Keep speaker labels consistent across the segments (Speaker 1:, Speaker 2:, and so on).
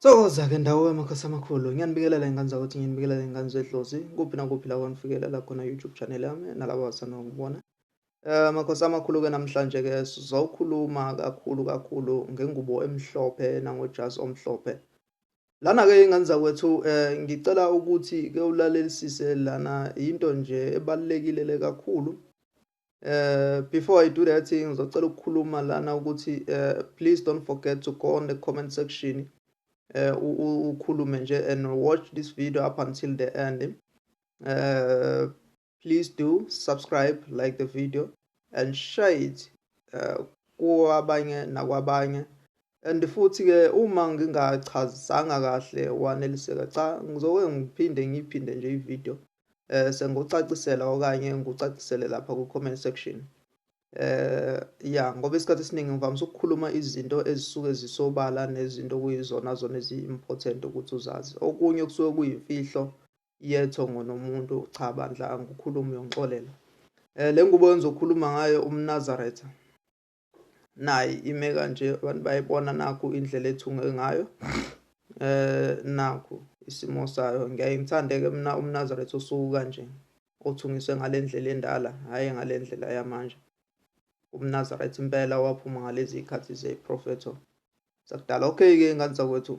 Speaker 1: Sokoza ke ndawo yamakhosi amakhulu ngiyanibikelela ingane zakuthi ngiyanibikelela ingane zedlozi kuphi nakuphi la kwanifikelela khona YouTube channel yami nalabo abasanda ngibona eh, amakhosi amakhulu ke namhlanje ke sizokhuluma kakhulu kakhulu ngengubo emhlophe nangojazi omhlophe lana ke ingane zakwethu eh, ngicela ukuthi ke ulalelisise lana into nje ebalekile le kakhulu Uh, before I do that thing, ngizocela ukukhuluma lana ukuthi uh, please don't forget to go on the comment section uh, ukhulume nje and watch this video up until the end. Uh, please do subscribe, like the video and share it uh, kwabanye nakwabanye and futhi ke uma ngingachazisanga kahle waneliseka cha ngizoke ngiphinde ngiphinde nje ivideo eh sengocacisela okanye ngucacisele lapha ku comment section eh ya ngoba isikhathi esiningi ngivamise ukukhuluma izinto ezisuke zisobala nezinto kuyizona zona ezi-important ukuthi uzazi okunye kusuke kuyimfihlo yetho ngonomuntu cha bandla angikhulumi yongixolela eh le ngubo engizokhuluma ngayo umnazaretha nayi ime kanje abantu bayibona nakhu indlela ethunge ngayo eh nakhu isimo sayo ngiyaye ngithande ke mina umnazaretha osuku kanje othungiswe ngalendlela endala hayi ngalendlela yamanje umnazaretha impela waphuma ngalezi ikhathi ze propheto sakudala okay ke ngani zakwethu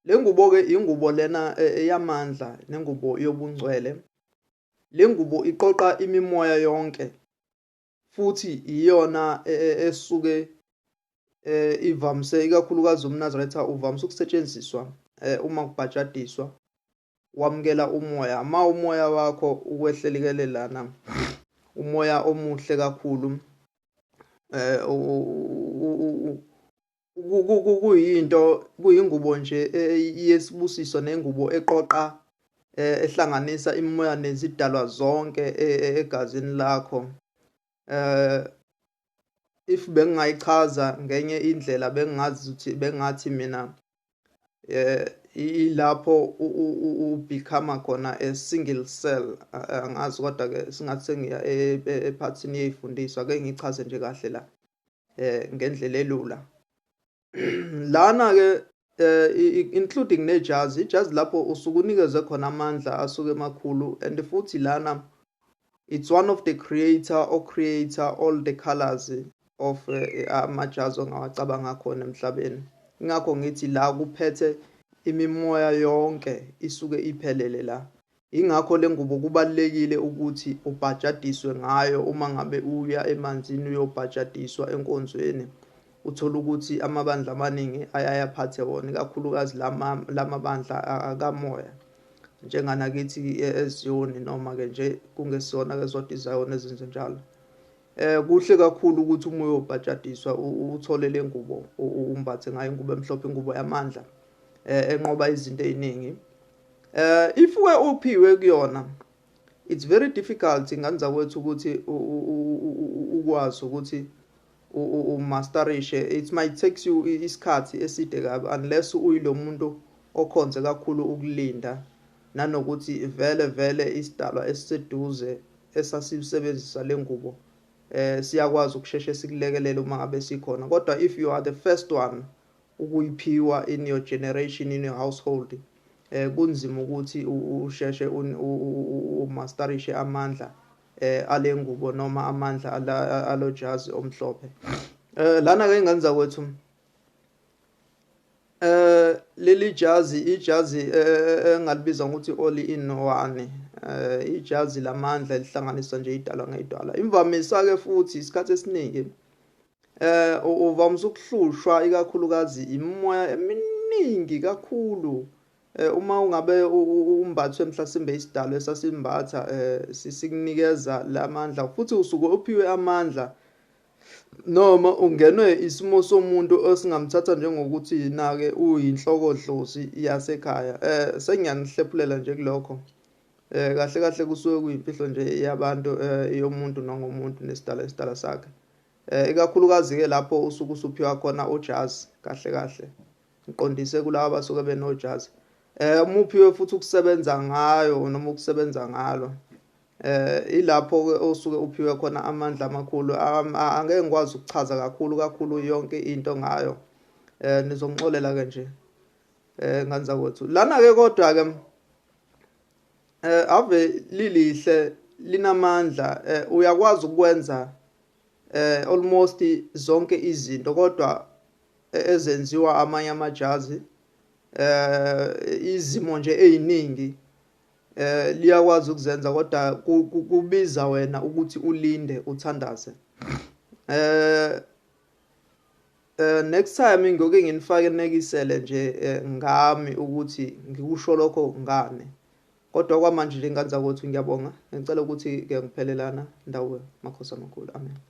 Speaker 1: lengubo ke ingubo lena e, eyamandla nengubo yobungcwele lengubo iqoqa imimoya yonke futhi iyona e, e, esuke eh ivamise ikakhulukazi umnazaretha uvamise ukusetshenziswa eh uma kubhajadiswa wamukela umoya ma umoya wakho ukwehlelikelelana umoya omuhle kakhulu eh kuyinto kuyingubo nje yesibusiso nengubo eqoqa eh, ehlanganisa imimoya nezidalwa zonke e, e, egazini lakho eh if bengingayichaza ngenye indlela bengingazi ukuthi bengathi mina eh ilapho u become khona a single cell angazi kodwa ke singathi sengiya ephathini yeyifundiswa ke ngichaze nje kahle la eh ngendlela elula lana ke eh, including nejazi ijazi lapho usuke unikeze khona amandla asuke emakhulu and futhi lana it's one of the creator or creator all the colors of eh, amajazi ongawacabanga khona emhlabeni ingakho ngithi la kuphethe imimoya yonke isuke iphelele la Yingakho le ngubo kubalulekile ukuthi ubhajadiswe ngayo uma ngabe uya emanzini uyobhajadiswa enkonzweni. Uthole ukuthi amabandla amaningi ayaye aphathe wona, ikakhulukazi la mabandla akamoya njenganakithi eziyoni noma-ke nje kungesona-ke zodwa izayoni ezenze njalo. Eh kuhle kakhulu ukuthi uma uyobhajadiswa uthole le ngubo umbathe ngayo ingubo emhlophe ingubo yamandla eh enqoba izinto eziningi Uh, if we ophiwe kuyona it's very difficult ingane zakwethu ukuthi ukwazi ukuthi umasterishe it might takes you isikhathi eside kabi unless uyilo muntu okhonze kakhulu ukulinda nanokuthi vele vele isidalwa esiseduze esasisebenzisa le ngubo eh siyakwazi ukusheshe sikulekelele uma ngabe sikhona kodwa if you are the first one Ukuyiphiwa in your generation in your household kunzima ukuthi usheshe umastarishe amandla alengubo noma amandla alojazi omhlophe. Lana ke ngenza kwethu eh leli jazi ijazi eh, eh, engalibiza ngokuthi all in one eh ijazi lamandla elihlanganiswa nje idalwa ngedwala imvamisa ke futhi isikhathi esiningi Eh uvamise ukuhlushwa ikakhulukazi imimoya eminingi kakhulu eh uma ungabe umbathwe mhlasimbe isidalo esasimbatha eh sisikunikeza lamandla futhi usuke uphiwe amandla noma ungenwe isimo somuntu osingamthatha njengokuthi nake uyinhloko dlozi yasekhaya eh sengiyanihlephulela nje kulokho eh kahle kahle kusuke kuyimfihlo nje yabantu eh yomuntu nangomuntu nesidala isidala sakhe Eh, ikakhulukazi-ke lapho usuke usuphiwa khona ujazi kahle kahle ngiqondise kulaba abasuke benojazi eh uma uphiwe futhi ukusebenza ngayo noma ukusebenza ngalo eh ilapho ke osuke uphiwe khona amandla amakhulu angeke ngikwazi ukuchaza kakhulu kakhulu yonke into ngayo eh nizongixolela ke nje eh ngani zakwethu lana ke kodwa ke Eh ave lilihle linamandla eh, uyakwazi ukwenza eh almost zonke izinto kodwa eh, ezenziwa amanye amajazi eh izimo nje eziningi eh liyakwazi ukuzenza kodwa kubiza wena ukuthi ulinde uthandaze eh Uh, next time ngoke nginifake nekisele nje eh, ngami ukuthi ngikusho lokho ngane kodwa kwamanje nje ngani zakwethu ngiyabonga ngicela ukuthi ke ngiphelelana ndawo makhosi amakhulu amen